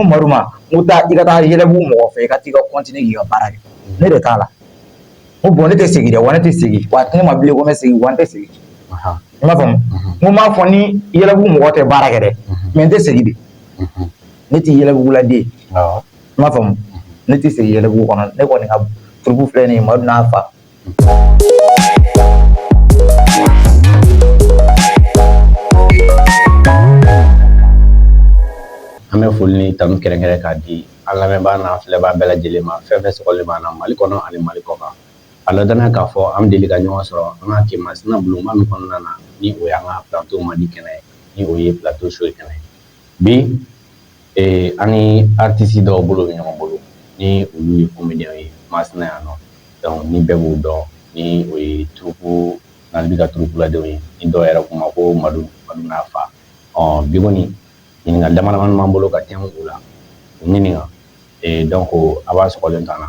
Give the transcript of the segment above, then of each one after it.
Ko Madu ma n ko taa i ka taa Yɛlɛbugu mɔgɔ fɛ i ka t'i ka continuer k'i ka baara kɛ ne de t'a la n ko bon ne tɛ segin dɛ wa ne tɛ segin wa ni ne ma wili ko n bɛ segin wa n tɛ segin i m'a faamu n ko n m'a fɔ n ni Yɛlɛbugu mɔgɔ tɛ baara kɛ dɛ mais n tɛ segin de ne tɛ Yɛlɛbuguladen ye i m'a faamu ne tɛ segin Yɛlɛbugu kɔnɔ ne kɔni ka troupe filɛ nin ye Madu n'a fa An bɛ foli ni tanu kɛrɛnkɛrɛn k'a di an lamɛnbaa n'an filɛbaa bɛɛ lajɛlen ma fɛn fɛn sɔgɔlen b'an na Mali kɔnɔ ani Mali kɔkan a la danaya k'a fɔ an bɛ deli ka ɲɔgɔn sɔrɔ an ka kin masina bulonba min kɔnɔna na ni o y'an ka plateau Mali kɛnɛ ye ni o ye plateau show kɛnɛ ye bi Ee an ni artiste dɔw bolo bɛ ɲɔgɔn bolo ni olu ye comédienw ye Masina yan nɔ donc ni bɛɛ b'u dɔn ni o ye troupe Nalbi ka troupeladenw ye ni dɔw yɛrɛ ko u ma ko Madu n'a fa ɔ bi kɔni ɲininkali damadama b'an bolo ka tɛmɛ u la ɲininka donc a b'a sɔgɔlen to an na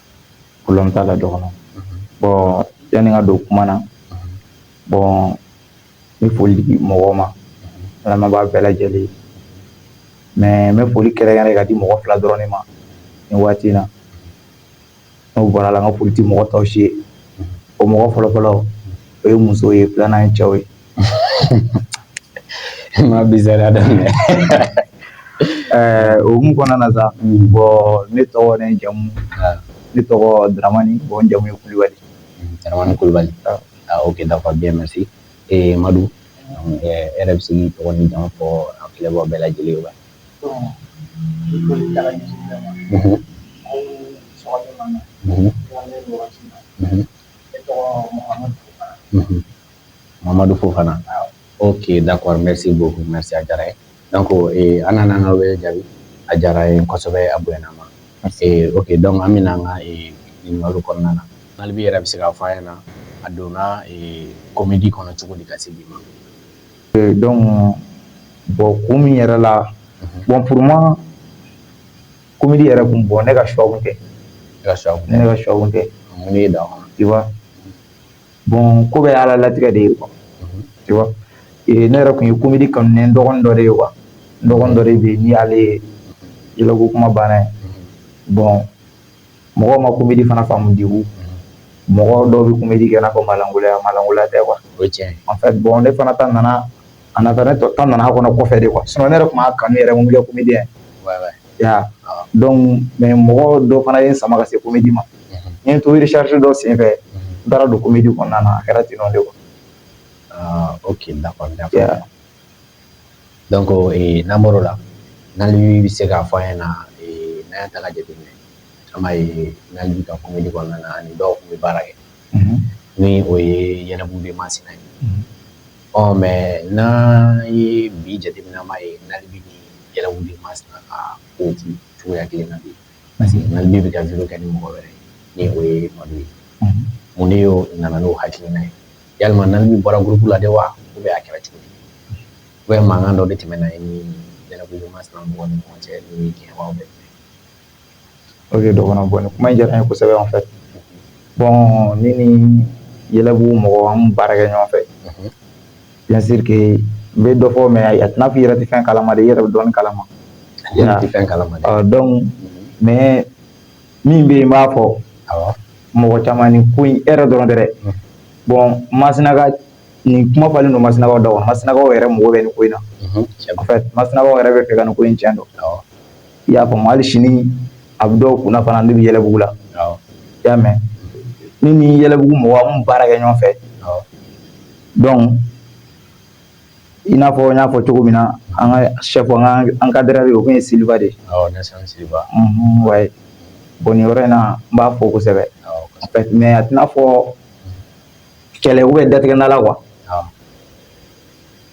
kolon t'a la dɔgɔn bon yanni n ka don kuma na bon n bɛ foli di mɔgɔ ma an lamɛnbaa bɛɛ lajɛlen mais n bɛ foli kɛrɛnkɛrɛn ka di mɔgɔ fila dɔrɔn ma nin waati in na n'o bɔra a la n ka foli tɛ mɔgɔ tɔw si ye o mɔgɔ fɔlɔfɔlɔ o ye muso ye filanan ye cɛ ye ma bizariya daminɛ o hukumu kɔnɔna na sa bon ne tɔgɔ ni n jamu ne tɔgɔ daramani bon n jamu ye kulubali daramani kulubali ok d'accord bien merci ee madu e yɛrɛ bɛ se k'i tɔgɔ n'i jamu fɔ an filɛbaa bɛɛ lajɛlen ye wa Mamadu fo fana o ke da kɔnɔmɛ se bɔ mɛ a diyara ye dɔn ko an nana an ka wele jaabi a diyara ye kosɛbɛ a bɛ ma o que dɔn an bɛ an ka malo kɔnɔna na hali bɛ yɛrɛ bɛ se k ka fɔ an na a donna kɔmimidi kɔnɔ cogo di ka se bi ma dɔn bɔn ko min yɛrɛ la bɔn pma kɔmimidi yɛrɛ tun bɔn ne ka shɔ kɛ ne ka shɔ kɛ mun da i bon ko bɛɛ ala latigɛ de ye quoi ne yɛrɛ tun ye comédie kanu ne dɔgɔn dɔ de ye quoi dɔgɔn dɔ de bɛ ni ale ye Ilako kuma banna ye bon mɔgɔ ma comédie fana faamu de mɔgɔ dɔ bɛ comédie kɛ ko malankolon malankolonla de quoi en fait bon ne fana tan nana a ne tɔ tan nana kɔnɔ kɔfɛ de quoi sinon ne yɛrɛ tun m'a kanu yɛrɛ comédie ya donc mais mɔgɔ dɔ fana ye n sama ka se comédie ma n to recherche dɔ senfɛ n taara don comédie kɔnɔna na a kɛra ten de quoi ok d'accord donc namo la Nalibi bɛ se k'a fɔ ye na n'an y'a ta ka jate minɛ an b'a ye Nalibi ka comédie kɔnɔna na ani dɔw tun bɛ baara kɛ ni o ye Yɛlɛbugu de Masina ye Ɔ mais n'an ye bi jate minɛ an b'a ye Nalibi ni Yɛlɛbugu de Masina ka ko tɛ cogoya kelen na bi parce que Nalibi bɛ ka vidéo kɛ ni mɔgɔ wɛrɛ ni o ye Madu ye mun de y'o nana n'o hakilina ye walima Nalibi bɔra groupe la de wa u bɛ a kɛra cogo di ou bien mankan dɔ de tɛmɛna e ni Yɛlɛbugu de Masina mɔgɔ ni ɲɔgɔn cɛ ni kɛ bɛ Ok Dɔgɔnɔ bon nin kuma in diyara n ye kosɛbɛ en fait bon ne ni yɛlɛbugu mɔgɔ an baara kɛ ɲɔgɔn fɛ bien sûr que n bɛ dɔ fɔ mais a tɛ i n'a fɔ i yɛrɛ tɛ fɛn kalama i yɛrɛ bɛ dɔ kalama fɛn kalama dɛ donc mais min bɛ yen n b'a fɔ mɔgɔ caman ni ko e yɛrɛ dɔrɔn dɛ bon Masinaka nin kuma falen don Masinaka da Masinaka yɛrɛ mago bɛ nin ko in na Masinaka yɛrɛ b'a fɛ ka nin ko in cɛn dɔn i y'a faamu hali sini a bɛ dɔw kunna fana ne bɛ yɛlɛbugu la i y'a mɛn ne ni yɛlɛbugu mɔgɔ an baara kɛ ɲɔgɔn fɛ donc i n'a fɔ n y'a fɔ cogo min na an ka chef an ka encadreur ye o tun ye Silva de ouais bon nin yɔrɔ in na n b'a fɔ kosɛbɛ en fait mais a tɛ i n'a fɔ kɛlɛ u bɛ datigɛ da la quoi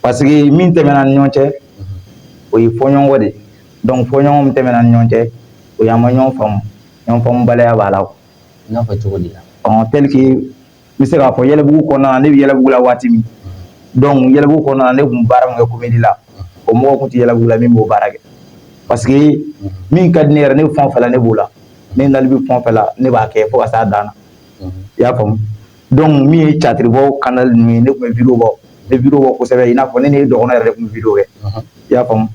Parce que min tɛmɛna an ni ɲɔgɔn cɛ o ye fɔɲɔgɔnkɔ de donc fɔɲɔgɔnkɔ min tɛmɛna an ni ɲɔgɔn cɛ o ye an ma ɲɔgɔn faamu ɲɔgɔn faamubaliya b'a la n'a fɔ cogo di la ɔ tel que n bɛ se k'a fɔ yɛlɛbugu kɔnɔna na ne bɛ yɛlɛbugu la waati min donc yɛlɛbugu kɔnɔna na ne tun bɛ baara min kɛ comédie la o mɔgɔ tun tɛ yɛlɛbugu la min b'o baara kɛ parce que min ka di ne yɛrɛ ne bɛ fɛn o fɛn la ne b'o la ne dalen bɛ fɛn o fɛn la ne b'a kɛ fo ka se a dan na i y'a faamu min ye catiribɔ kanda ninnu ye ne tun bɛ bibɔ ne bi bɔ kosɛbɛ in n'a fɔ ne ne ye dɔgɔn yɛrɛ de tun bi kɛ i y'a faamumu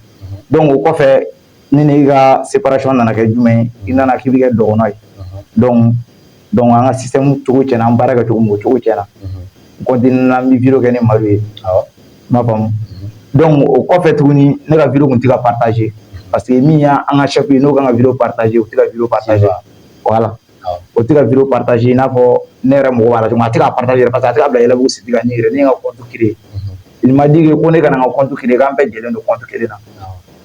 dɔnku o kɔfɛ ne ne ka seracɔn nana kɛ jumɛn i nana k'i bɛ kɛ dɔgɔn ye dɔn dɔnku an ka sisan cogo cɛ an baara kɛ cogo cogo cɛ na n bi bi kɛ ne ma ye ma faamumu dɔnku o kɔfɛ tuguni ne ka bi tun tɛ ka pataze pa que min y' an ka sɛ n'o ka bi pataze u tɛ ka bi pataze wala o tɛ ka juru pataze i n'a fɔ ne yɛrɛ mɔgɔ a tɛ ka pata yɛrɛ pa a tɛ' bila yɛlɛbugu sigi ka ne yɛrɛ ne ka kɔntu kelen nin ma di ko ne kana ka kɔntu kelen k'an bɛɛ lajɛlen don kɔntu kelen na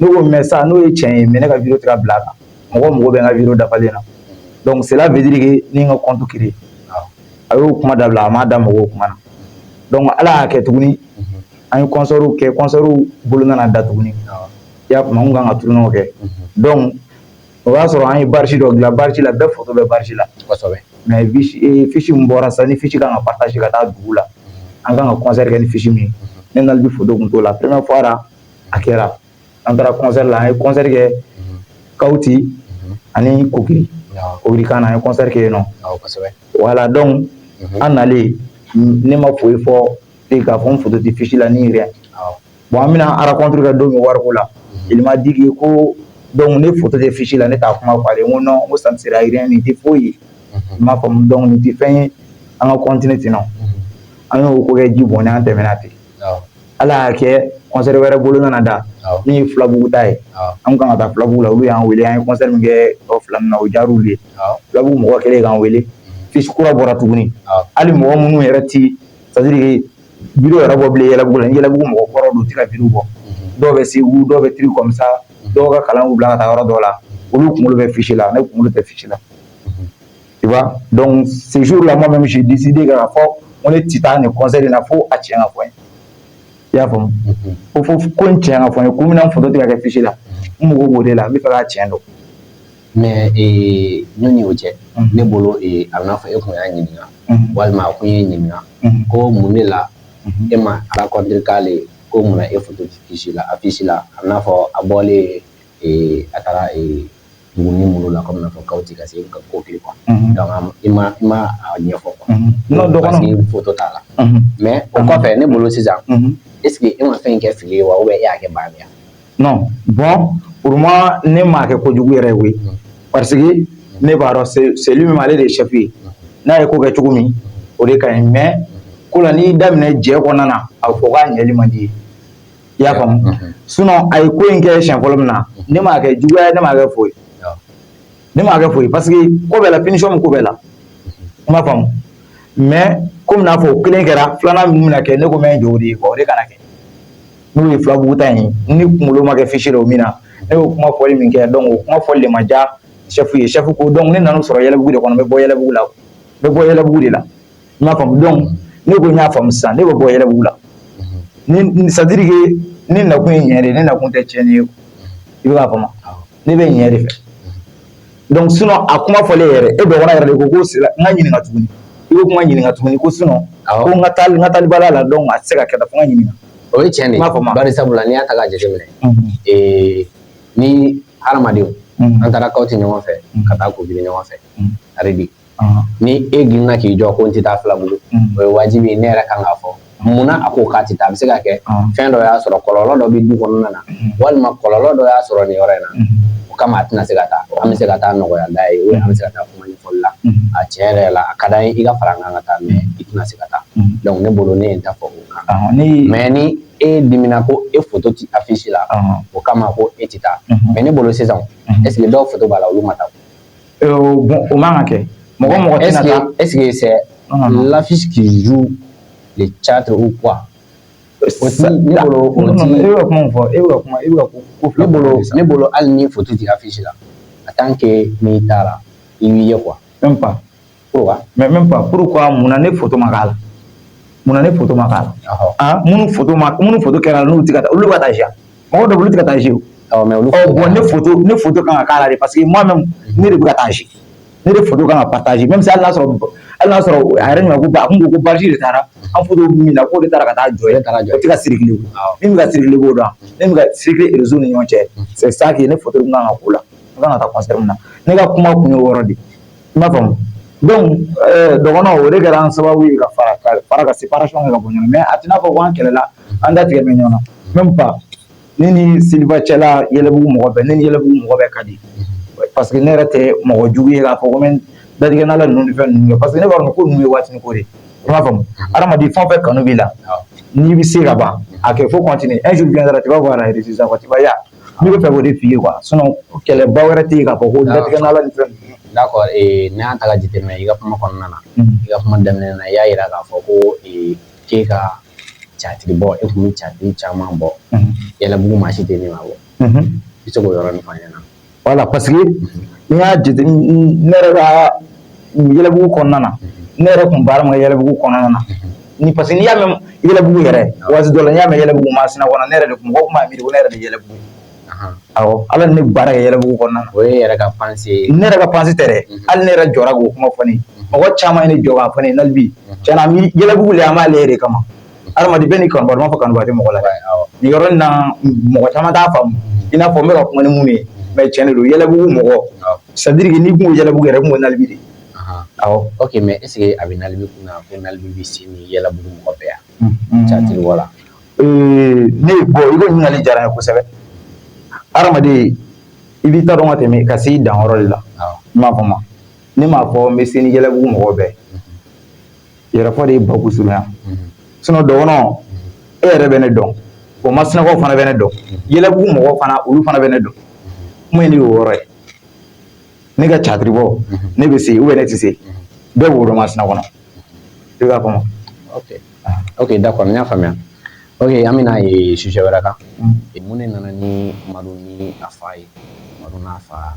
n'o ko mɛ sa n'o ye cɛ ye mɛ ne ka juru tɛ bila a kan mɔgɔ mɔgɔ bɛ ka juru dafalen na dɔnku sira vtiri ni ka kɔntu kelen a y'o kuma da bila a ma da mɔgɔw kuma na dɔnku ala y'a kɛ tuguni an ye kɔsɔrow kɛ kɔsɔrow bolo nana da tuguni y'a tuma kan ka tuurunw kɛ dɔn o y'a sɔrɔ an ye bâche dɔ dilan bâche la bɛɛ foto bɛ bâche la kosɛbɛ mais e, fiche min bɔra sisan ni fiche kan ka partager ka taa dugu la an kan ka concert kɛ ni fiche min ye ne n'ale bi foto kun t'o la première fois ra a kɛra an taara concert la an ye concert kɛ kawuti ani kokiri kokiri kan na an ye concert kɛ yen nɔ voilà donc an nalen ne ma foyi fɔ k'a fɔ n foto tɛ fiche la ni rien bon an bɛna rencontre kɛ don min wariko la il m'a dit que ko donc ne foto tɛ fiche la ne t'a kuma fɔ n ko ça ne sera rien nin tɛ foyi ye i b'a faamu donc nin tɛ fɛn ye an ka continuer ten an y'o ko kɛ ji bɔn an tɛmɛna ten ala y'a kɛ concert wɛrɛ bolo nana da min ye filabugu ta ye an kan ka taa filabugu la olu y'an weele an ye concert min kɛ o fila min na o diyara olu ye filabugu mɔgɔ kɛlen k'an weele fiche kura bɔra tuguni hali mɔgɔ minnu yɛrɛ tɛ c'est à dire vidéo yɛrɛ bɔ bilen yɛlɛbugu la yɛlɛbugu mɔgɔ kɔrɔ don u tɛ ka vidéo bɔ dɔw bɛ segu dɔw bɛ truc comme ça dɔw ka kalan y'u bila ka taa yɔrɔ dɔw la olu kunkolo bɛ fiche la ne kunkolo tɛ fiche la donc ce jour là moi même j'ai décidé k'a fɔ ko ne tɛ taa nin concert in na fo a tiɲɛ ka fɔ n ye i y'a faamu ko fo ko n tiɲɛ ka fɔ n ye ko mun na n foto tɛ ka kɛ fiche la n mago b'o de la n bɛ fɛ ka tiɲɛ dɔn mais yanni o cɛ ne bolo a n'a fɔ e tun y'a ɲininka walima a tun y'e ɲininka ko mun de la e ma rencontre k'ale ko mun na e foto tɛ fiche la a n'a fɔ a bɔlen a taara dugunin minnu la kɔmi n'a fɔ kawuti ka se kokiri quoi i m'a ɲɛfɔ non donc ne foto t'a la mais o kɔfɛ ne bolo sisan est ce que e ma fɛn in kɛ fili ye wa e y'a kɛ baara yan non bon pour moi ne m'a kɛ kojugu yɛrɛ ye koyi parce que ne b'a dɔn c'est lui même ale de ye chef ye n'a ye ko kɛ cogo min o de ka ɲi mais ko la n'i daminɛ jɛ kɔnɔna na a bɛ fɔ k'a ɲɛli man di ye i y'a faamu sinon a ye ko in kɛ siɲɛ fɔlɔ min na ne m'a kɛ juguya ye ne m'a kɛ foyi ne m'a kɛ foyi parce que ko bɛɛ la punition bɛ ko bɛɛ la i m'a faamu mais komi n'a fɔ o kelen kɛra filanan min bɛna kɛ ne ko n bɛ n jɔ o de ye quoi o de kana kɛ. n'o ye filabugu ta in ye ne kunkolo ma kɛ fiche la o min na ne y'o kuma fɔli min kɛ donc o kuma fɔli de ma diya chef ye chef ko donc ne nan'o sɔrɔ yɛlɛbugu de kɔnɔ n bɛ bɔ yɛlɛbugu la n bɛ bɔ yɛlɛbugu de la i m'a faamu donc ne ko n y'a faamu sisan ne bɛ bɔ yɛlɛbugu la ni c'est à dire que ne nakun ye ɲɛ de ye ne nakun tɛ tiɲɛni ye i b'a faamu ne bɛ ɲɛ de fɛ donc sinon a kuma fɔlen yɛrɛ e dɔgɔnin yɛrɛ de ko ko sira n ka ɲininka tuguni i ko kuma ɲininka tuguni ko sinon ko n ka taali n ka taali baliya la donc a tɛ se ka kɛ tan fo n ka ɲininka o ye tiɲɛ de ye bari sabula n'i y'a ta k'a jateminɛ ee ni hadamadenw an taara Kawuti ɲɔgɔn fɛ ka taa Kokiri ɲɔgɔn fɛ hali bi ni e girinna k'i jɔ ko n tɛ taa Filabugu o ye wajibi ne yɛrɛ kan k'a fɔ munna a ko k'a tɛ taa a bɛ se ka kɛ fɛn dɔ y'a sɔrɔ kɔlɔlɔ dɔ bɛ du kɔnɔna na walima kɔlɔlɔ dɔ y'a sɔrɔ nin yɔrɔ in na o kama a tɛna se ka taa an bɛ se ka taa nɔgɔya la ye an bɛ se ka taa kuma ɲɛfɔli la a tiɲɛ yɛrɛ la a ka d'an ye i ka fara an kan ka taa mais i tɛna se ka taa donc ne bolo ne ye n ta fɔ o kan mais ni e dimina ko e foto tɛ affiche la o kama ko e tɛ taa mais ne bolo sisan est-ce que dɔw foto b'a la olu ma taa o man ka kɛ mɔgɔ mɔgɔ tɛna taa est-ce que c'est l'affiche qui joue le théâtre ou quoi ne bolo o ti e bɛ kuma fɔ e bɛ kuma e bɛ ko ko fila ne bolo ne bolo hali ni foto ti affiche la en tant que n'i taara i b'i ye quoi même pas mais même pas pourquoi munna ne foto ma k'a la munna ne foto ma k'a la aa minnu foto ma minnu foto kɛra n'u tɛ ka olu ka taa jouer mɔgɔ dɔ olu tɛ ka taa jouer bon ne foto ne foto kan ka k'a la de parce que moi même ne de bɛ ka taa jouer ne de foto kan ka partager mais hali y'a sɔrɔ hali y'a sɔrɔ a yɛrɛ ɲɔgɔn ko ba kun ko baji de taara an foto min na k'o de taara ka taa jɔ ye taara jɔ tɛ ka circuler min bɛ ka circuler b'o dɔn min bɛ ka circuler réseau ni ɲɔgɔn cɛ c'est ça que ne foto kan ka k'o la n kan ka taa concert min na ne ka kuma kun ye o yɔrɔ de i m'a faamu donc dɔgɔnɔ o de kɛra an sababu ye ka fara ka fara ka séparation kɛ ka bɔ ɲɔgɔn na a tɛna fɔ ko an kɛlɛla an datigɛ bɛ ɲɔgɔn na même pas ne ni Siliba cɛla yɛlɛbugu mɔgɔ bɛɛ ne ni yɛlɛbugu mɔgɔ bɛɛ ka di parce que ne yɛrɛ tɛ mɔgɔ jugu ye k'a fɔ ko n datigɛ n'ala ninnu ni fɛn ninnu kɛ parce que ne b'a dɔn ko ninnu ye waatini ko de ye i m'a faamu adamaden fɛn o fɛn kanu b'i la n'i bɛ se ka ban a kɛ faut continuer un jour viendra tu vas voir la résultat tu vas y aller Ne bɛ fɛ k'o de f'i ye quoi sinon kɛlɛba wɛrɛ tɛ yen k'a fɔ ko datigɛ n'ala ni fɛn ninnu d'accord n'an y'a ta k'a jateminɛ i ka kuma kɔnɔna na i ka kuma daminɛ na i y'a yira k'a fɔ ko k'e ka catiri bɔ e kun bɛ catiri caman bɔ yɛlɛbugu maa si tɛ ne ma bɔ i bɛ se k'o yɔrɔnin fɔ an ɲɛna voilà parce que n'i y'a jate ne yɛrɛ ka yɛlɛbugu kɔnɔna na ne yɛrɛ tun baara ma yɛlɛbugu kɔnɔna na ni parce que n'i y'a mɛn yɛlɛbugu yɛrɛ waati dɔ la n'i y'a mɛn yɛlɛbugu masina kɔnɔ ne yɛrɛ de mɔgɔ tun b'a miiri ko ne yɛrɛ de ye yɛlɛbugu awɔ hali ni ne baara kɛ yɛlɛbugu kɔnɔna na o ye yɛrɛ ka pensée ye ne yɛrɛ ka pensée tɛ dɛ hali ne yɛrɛ jɔra k'o kuma fɔ ne mɔgɔ caman ye ne jɔ k'a fɔ ne ye hali bi tiɲɛ na yɛlɛbugu lɛ an b'a lɛ e yɛrɛ de kama adamaden bɛɛ n'i kanubaga n m'a fɔ kanubaga tɛ mɔgɔ la nin yɔrɔ in na mɔgɔ caman t'a faamu i n'a fɔ n bɛ ka kuma ni mun ye mais tiɲɛ de don yɛlɛbugu mɔgɔ c'est à dire que n'i kun ko yɛlɛbugu yɛrɛ kun ko nali de awɔ ok mais est-ce que a bɛ nali kun na ko nali bɛ se ni yɛlɛbugu mɔgɔ bɛɛ yan catiri wala ne ye bon i ka ɲininkali diyara n ye kosɛbɛ adamaden i b'i ta dɔn ka tɛmɛ ka se i danyɔrɔ de la i m'a faamu ne m'a fɔ n bɛ se ni yɛlɛbugu mɔgɔ bɛɛ yɛrɛfɔ de ye baku surunya sinon dɔgɔnɔ e yɛrɛ bɛ ne dɔn o masinakaw fana bɛ ne dɔn yɛlɛbugu mɔgɔ fana olu fana bɛ ne dɔn kuma in de y'o yɔrɔ ye ne ka catiribɔ ne bɛ se ou bien ne tɛ se bɛɛ b'o dɔn masina kɔnɔ i b'a faamu ok n y'a faamuya ok an bɛna ye sujet wɛrɛ kan mun ne nana ni madu ni a fa ye madu n'a fa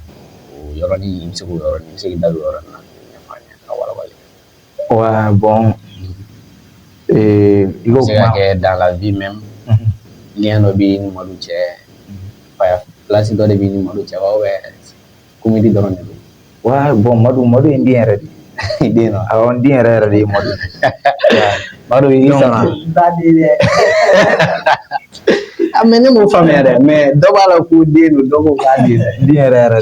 o yɔrɔnin i bɛ se k'o yɔrɔnin i bɛ se k'i da don o yɔrɔnin na Wa bɔn kɛ da la bi mɛn ni dɔ bɛ ni malo cɛ balasi dɔ de bɛ ni malo cɛ bɛdi dɔrɔn de wa bɔn madu madu in den yɛrɛ de den yɛrɛ yɛrɛ de ye madu a mɛ ne ma faamuya yɛrɛ mɛ dɔ b'a la ko den don dɔgɔ den yɛrɛ yɛrɛ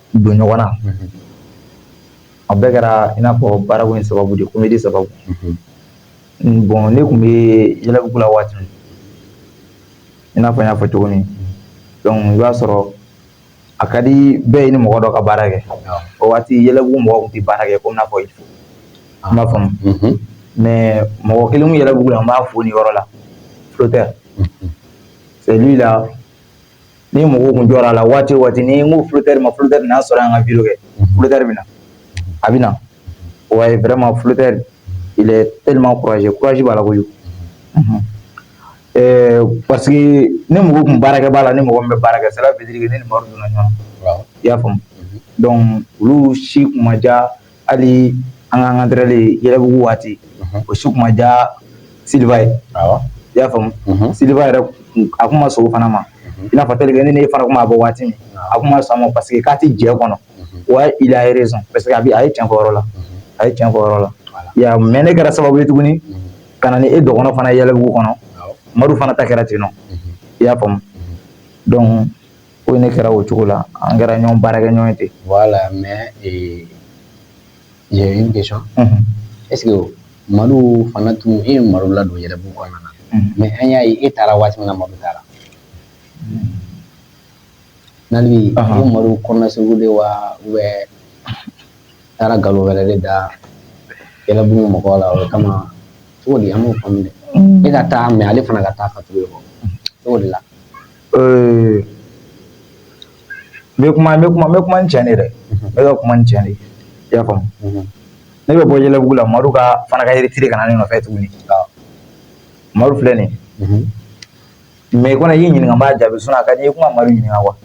don ɲɔgɔn na a bɛɛ kɛra i n'a fɔ baarako in sababu de comédie sababu bon ne tun bɛ yɛlɛbugu la waati min i n'a fɔ n y'a fɔ cogo min donc i b'a sɔrɔ a ka di bɛɛ ye ni mɔgɔ dɔ ka baara kɛ o waati yɛlɛbugu mɔgɔw tun tɛ baara kɛ komi n y'a fɔ i b'a faamu mais mɔgɔ kelen min yɛlɛbugu la n b'a fo nin yɔrɔ la Flotteur c'est lui là Ni mɔgɔw tun jɔ a la waati waati ni n ko fitari ma fitari n y'a sɔrɔ an ka bi kɛ fitari min na a bɛ na o ye bɛrɛma filitari teelima kuraje kuraji b'a la koyi ɛɛ pa ne mɔgɔ tun baarakɛ b'a la ni mɔgɔ bɛ baarakɛ sira bɛ ni donna ɲɔgɔn i y'a faamuya dɔn olu si ma diya hali an ka an entraîner yɛlɛbugu waati o si kun ma diya siliba ye i y'a faamu siliba yɛrɛ a kun ma sɔn o fana ma i n'a fɔ tel que ne n'e fana tun b'a bɔ waati min a tun ma sɔn a ma parce que k'a tɛ jɛ kɔnɔ ouais il a raison parce que a a ye tiɲɛ fɔ yɔrɔ la a ye tiɲɛ fɔ yɔrɔ la mais ne kɛra sababu ye tuguni ka na ni e dɔgɔnɔ fana yɛlɛbugu kɔnɔ madu fana ta kɛra ten i y'a faamu donc ko ne kɛra o cogo la an kɛra ɲɔgɔn baarakɛ ɲɔgɔn ye ten voilà mais j'ai une question est ce que Madu fana tun e ye Madu ladon yɛlɛbugu kɔnɔna na mais an y'a ye e taara waati min na Madu taara nali ko Madu kɔnɔna segu de wa ou bien taara nkalon wɛrɛ de da yɛlɛbugu mɔgɔ la o kama cogo di an m'o faamu dɛ e ka taa mais ale fana ka taa ka tugu e kɔ cogo de la Ee n bɛ kuma n bɛ kuma n bɛ kuma ni tiɲɛ de ye dɛ n bɛ ka kuma ni tiɲɛ de ye i y'a faamu ne bɛ bɔ yɛlɛbugu la Madu ka fana k'a yɛrɛ retirer ka na ne nɔfɛ tuguni Madu filɛ nin ye mais i kɔni ye n ɲininka n b'a jaabi sinon a ka di n ye i tun ka Madu ɲininka quoi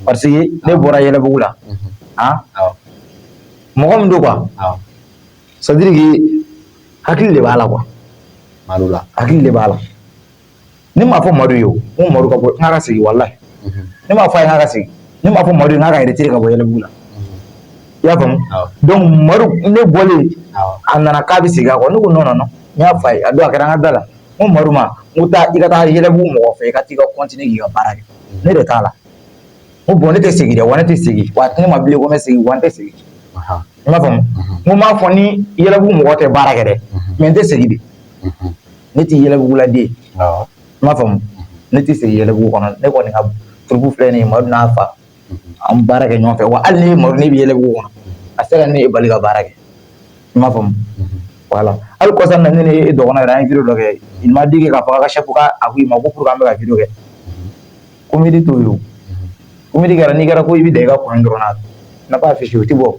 parce que ne bɔra yɛlɛbugu la han mɔgɔ min don quoi c'est à dire que hakili de b'a la quoi Madu la hakili de b'a la ne m'a fɔ madu ye o ko madu ka bɔ n k'a ka segin walayi ne m'a fɔ a ye k'a ka segin ne m'a fɔ madu ye k'a yɛrɛ retirer ka bɔ yɛlɛbugu la i y'a faamu donc madu ne bɔlen a nana k'a bɛ segin a kɔ ne ko non non n y'a f'a ye a don a kɛra an ka da la n ko madu ma n ko taa i ka taa yɛlɛbugu mɔgɔ fɛ i ka taa i ka continuer k'i ka baara kɛ ne de t'a la n ko bon ne tɛ segin dɛ wa ne tɛ segin wa ne ma bilen ko n bɛ segin wa n tɛ segin i m'a faamu n ko n m'a fɔ ni yɛlɛbugu mɔgɔ tɛ baara kɛ dɛ mais n tɛ segin de ne tɛ yɛlɛbugu la dɛ i m'a faamu ne tɛ se yɛlɛbugu kɔnɔ ne kɔni ka troupe filɛ nin Madu n'a fa an baara kɛ ɲɔgɔn fɛ wa hali ni Madu bɛ yɛlɛbugu kɔnɔ a se ka ne bali ka baara kɛ i m'a faamu voilà hali kɔsa na ne ni dɔgɔnɔ yɛrɛ an ye vidéo dɔ kɛ i ma deli k'a fɔ ka seko a ko i ma ko kuru an bɛ ka vidéo kɛ comédie t'o ye comédie kɛra n'i kɛra ko i bɛ da i ka coin dɔrɔn na b'a fɛ si o tɛ bɔ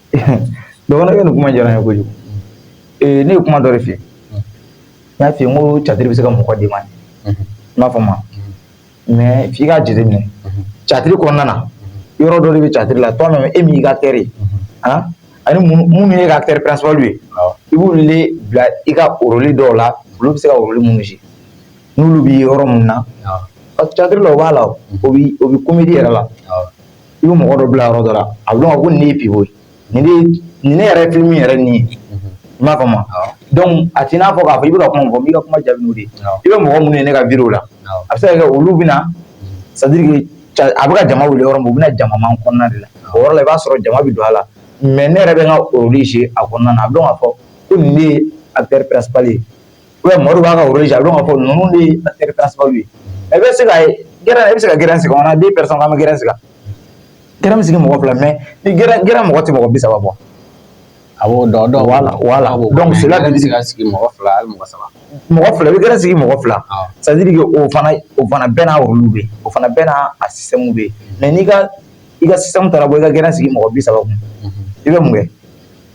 dɔgɔnɔkɛ nin kuma diyara n ye kojugu ee ne ye kuma dɔ de f'i ye n y'a f'i ye n ko catiri bɛ se ka mɔgɔ demander i m'a faamu mais f'i k'a jateminɛ catiri kɔnɔna na yɔrɔ dɔ de bɛ catiri la toi même e min y'i ka acteur ye ani minnu y'i ka acteur principal ye i b'olu de bila i ka rôle dɔw la olu bɛ se ka rôle minnu jouer n'olu bɛ yɔrɔ minnu na catiri la o b'a la o bɛ comédie yɛrɛ la i bɛ mɔgɔ dɔ bila yɔrɔ dɔ la a bɛ dɔn ko nin de ye pivot ye nin ne yɛrɛ film yɛrɛ nin ye i m'a faamu donc a t'i n'a fɔ k'a fɔ i bɛ kuma fɔ n b'i ka kuma jaabi de i bɛ mɔgɔ minnu ye ne ka vidéo la a bɛ se ka kɛ olu bɛ na c'est à dire a bɛ ka jama wuli yɔrɔ u bɛna jama kɔnɔna de la o yɔrɔ la i b'a sɔrɔ jama bɛ don a la mais ne yɛrɛ bɛ n ka rôle jouer a kɔnɔna a b'a fɔ ko nin a bɛɛ ye u bɛ mori b'a ka woro ja b'a fɔ ninnu de ye terire ta sababu ye a bɛ se ka ye g bɛ se ka gɛrɛ sigi kɔnɔ den pere ma gɛrɛ sigi g bɛ sigi mɔgɔ fila mɛ ni g g mɔgɔ tɛ mɔgɔ bi saba bɔ a dɔn sigi ka sigi mɔgɔ fila mɔgɔ saba mɔgɔ fila i bɛ sigi mɔgɔ fila sajiri o fana o fana bɛɛ n'a olu bɛ o fana bɛɛ n' a simu bɛ mɛ n' ka i ka sisan taara bɔ i ka g sigi mɔgɔ bi saba i bɛ mun kɛ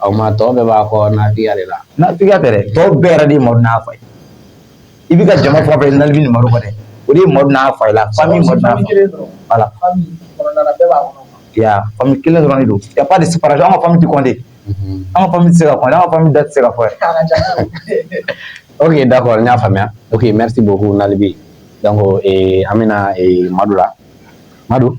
aw ma tɔw bɛɛ b'a kɔ n'a diya de la n'a diya tɛ tɔw bɛɛ yɛrɛ de ma n'a fa ye i bɛ ka jama fa fɛ nali ma kɔnɔ dɛ o de ma n'a fa la fa min kelen dɔrɔn de don ya de sara an ka fami kɔnte an ka se ka an ka da se ka fɔ o ye da kɔrɔ n y'a faamuya o ye mɛ se bɔbugu naanibi an bɛna madu la madu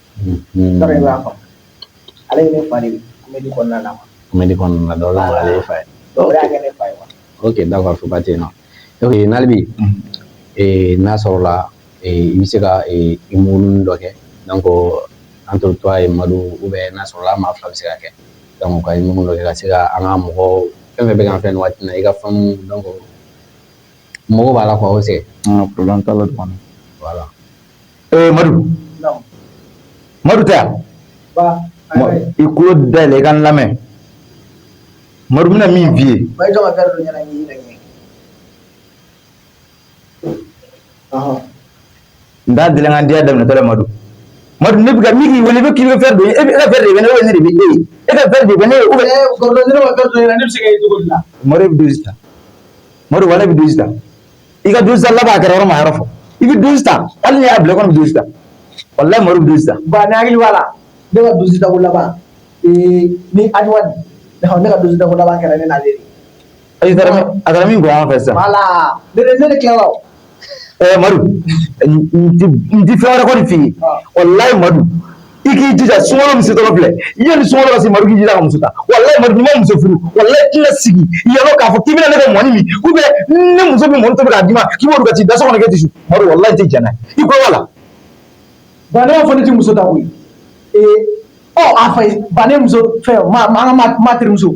b'a faamu ale ye ne fa de ye comédie kɔnɔna na comédie kɔnɔna na donc ale ye fa ye donc o de y'a kɛ ne fa ye ok d'accord soba ten na donc nalibi n'a sɔrɔla i bɛ se ka humour nin dɔ kɛ donc entre toi et madu ou bien n'a sɔrɔla maa fila bɛ se ka kɛ donc ka humour nin dɔ kɛ ka se ka an ka mɔgɔ fɛn fɛn bɛ k'an filɛ nin waati na i ka fans donc mɔgɔ b'a la k' aw fɛ an ka problème t'a la wala ee madu madu tɛ yan i kulo dayɛlɛ i ka n lamɛn madu bɛna min f'i ye n t'a deli an ka diya daminɛtɔ la madu madu ne bɛ ka min k'i wele i bɛ k'i bɛ verre don i ɲɛ e ka verre de bɛ ne ye ou bien ne de bɛ e ye e ka verre de bɛ ne ye ou bien ne ma verre don ɲɛ na ne bɛ se ka ye cogo di la madu e bɛ dosi ta madu wala e bɛ dosi ta i ka dosi ta laban kɛra yɔrɔ ma yɔrɔ fɔ i bɛ dosi ta hali n'i y'a bila kɔni i bɛ dosi ta walayi madu bɛ dosi ta ba ne hakili b'a la ne ka dosi ta ko laban ni awa ne ka dosi ta ko laban kɛra ne n'ale de a taara min bɔ an fɛ sisan wala ne de tilala ɛɛ madu n tɛ fɛn wɛrɛ kɔni f'i ye walayi madu i k'i jija sunkalo min setɔ filɛ yanni sunkalo ka se madu k'i jija ka muso ta walayi madu n'i ma muso furu walayi i tɛna sigi yɔrɔ k'a fɔ k'i bɛna ne ka mɔni min ou bien ne muso bɛ mɔni tobi k'a d'i ma k'i b'o dun ka t'i da so kɔnɔ k'e tɛ sun madu walayi n tɛ jɛn n'a ye i ko wala. ba ne b'a fɔ ne tɛ muso ta koyi ee ɔ a fa ye ba ne muso fɛn ma ma an ka ma terimuso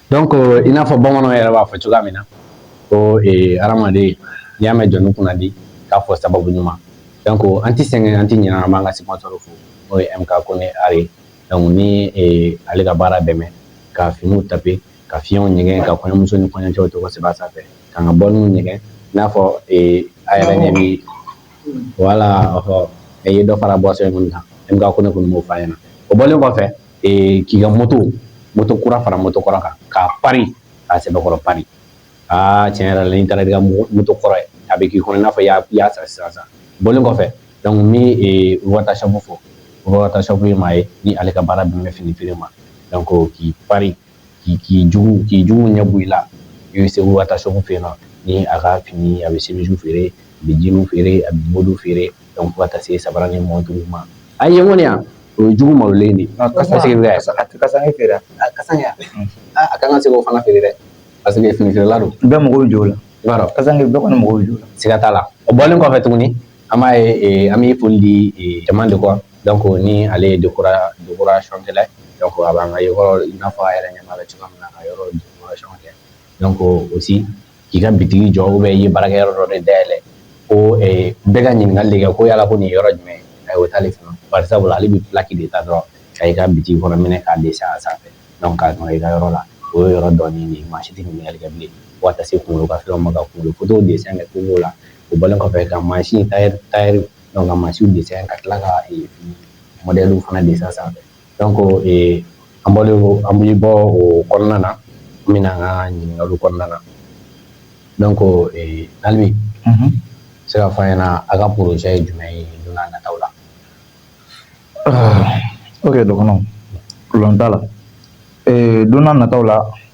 donc euh, i n'a fɔ bamananw yɛrɛ b'a fɔ cogoya min na ko eh, hadamaden n'i y'a mɛn jɔnni kunna di k'a fɔ sababu ɲuman donc an ti sɛgɛn an ti ɲinɛ an b'an ka sponsor fo n'o ye mk kone are ye donc ni eh, ale ka baara dɛmɛ ka finiw taper ka finiw ɲɛgɛn ka kɔɲɔmuso ni kɔɲɔcɛw tɔgɔ sɛbɛn a sanfɛ k'an ka bɔliniw ɲɛgɛn i n'a fɔ eh, a yɛrɛ ɲɛ bi wala ɔhɔ i ye dɔ fara boisson in kɔni kan mk kone kɔni b'o f'a ɲɛna o bɔlen kɔfɛ k'i ka moto moto kura fara moto kɔrɔ kan k'a pari k'a sɛbɛkɔrɔ pari aa tiɲɛ yɛrɛ la n'i taara i ka moto kɔrɔ ye a bɛ k'i kɔnɔ i n'a fɔ i y'a san sisan sisan bɔlen kɔfɛ donc ni wata shop fɔ wata shop ye maa ye ni ale ka baara bɛn bɛ fini feere ma donc k'i pari k'i k'i jugu k'i jugu ɲɛ bɔ i la i bɛ se wata shop fɛ yen ni a ka fini a bɛ semisu feere a bɛ jeans feere a bɛ body feere donc fo ka taa se sabara ni montre ma a ye mɔni yan o ye jugu malolen de kasanke feere kasanke a ka kan ka se k'o fana feere dɛ parce que fini feerela don bɛɛ mago bɛ jɔ o la bɛɛ kɔni mago bɛ jɔ o la siga t'a la o bɔlen kɔfɛ tuguni an b'a ye eh, an bɛ foli di eh, Tama Déco donc ni ale ye décora décoration kɛla ye donc a b'an ka yɔrɔ i n'a fɔ a yɛrɛ ɲɛ b'a la cogoya min na ka yɔrɔ décoration kɛ donc aussi k'i ka bitigi jɔ ou bien i ye baarakɛyɔrɔ dɔ de dayɛlɛ ko eh, bɛɛ ka ɲininkali de kɛ ko yala ko nin yɔrɔ jumɛn a y'o t'ale fana bari sabula ale bɛ plaki de ta dɔrɔn ka i ka bitigi kɔnɔ minɛn k'a dessin a sanfɛ donc k'a don i ka yɔrɔ la o ye yɔrɔ dɔnni de ye maa si tɛ ɲininkali kɛ bilen fo ka taa se kunkolo ka fɛnw ma ka kunkolo fotow dessin kɛ cogo la o bɔlen kɔfɛ ka mansin tailleur tailleur donc ka mansinw dessin ka tila ka ee modèle fana dessin sanfɛ donc ee an bɔlen an bɛ bɔ o kɔnɔna na an bɛna an ka ɲininkaliw kɔnɔna na donc ee Nalibi se k'a fɔ an ɲɛna a ka projet ye jumɛn ye don n'a nataw la ok dɔgɔnɔ problème t'a la ee don n'a nataw la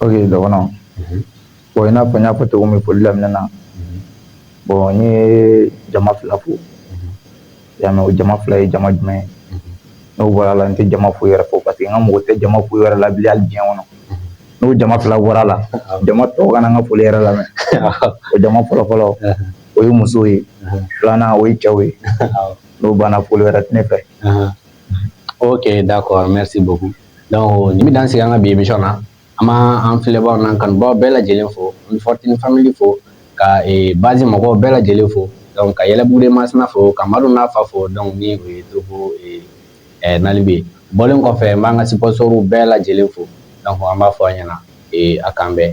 Ok dɔgɔnɔ bon i n'a fɔ n y'a fɔ cogo min foli daminɛ na bon n ye jama fila fo i y'a mɛn o jama fila ye jama jumɛn ye n'o bɔra a la n tɛ jama foyi wɛrɛ fo parce que n ka mɔgɔ tɛ jama foyi wɛrɛ la bi hali diɲɛ kɔnɔ n'o jama fila bɔra a la jama tɔw kana n ka foli yɛrɛ lamɛn o jama fɔlɔ fɔlɔ o ye musow ye filanan o ye cɛw ye n'o banna foli wɛrɛ tɛ ne fɛ ok d'accord merci beaucoup donc nin bɛ dan sigi an ka bi emission na an b'an an filɛbaaw n'an kanubaaw bɛɛ lajɛlen fo an bɛ Fortune Family fo ka ee base mɔgɔw bɛɛ lajɛlen fo donc ka Yɛlɛbugu de Masina fo ka Madu n'a fa fo donc ni o ye Togo ee ɛɛ Nalibi ye bɔlen kɔfɛ n b'an ka sponsoriw bɛɛ lajɛlen fo donc an b'a fɔ a ɲɛna ee a k'an bɛn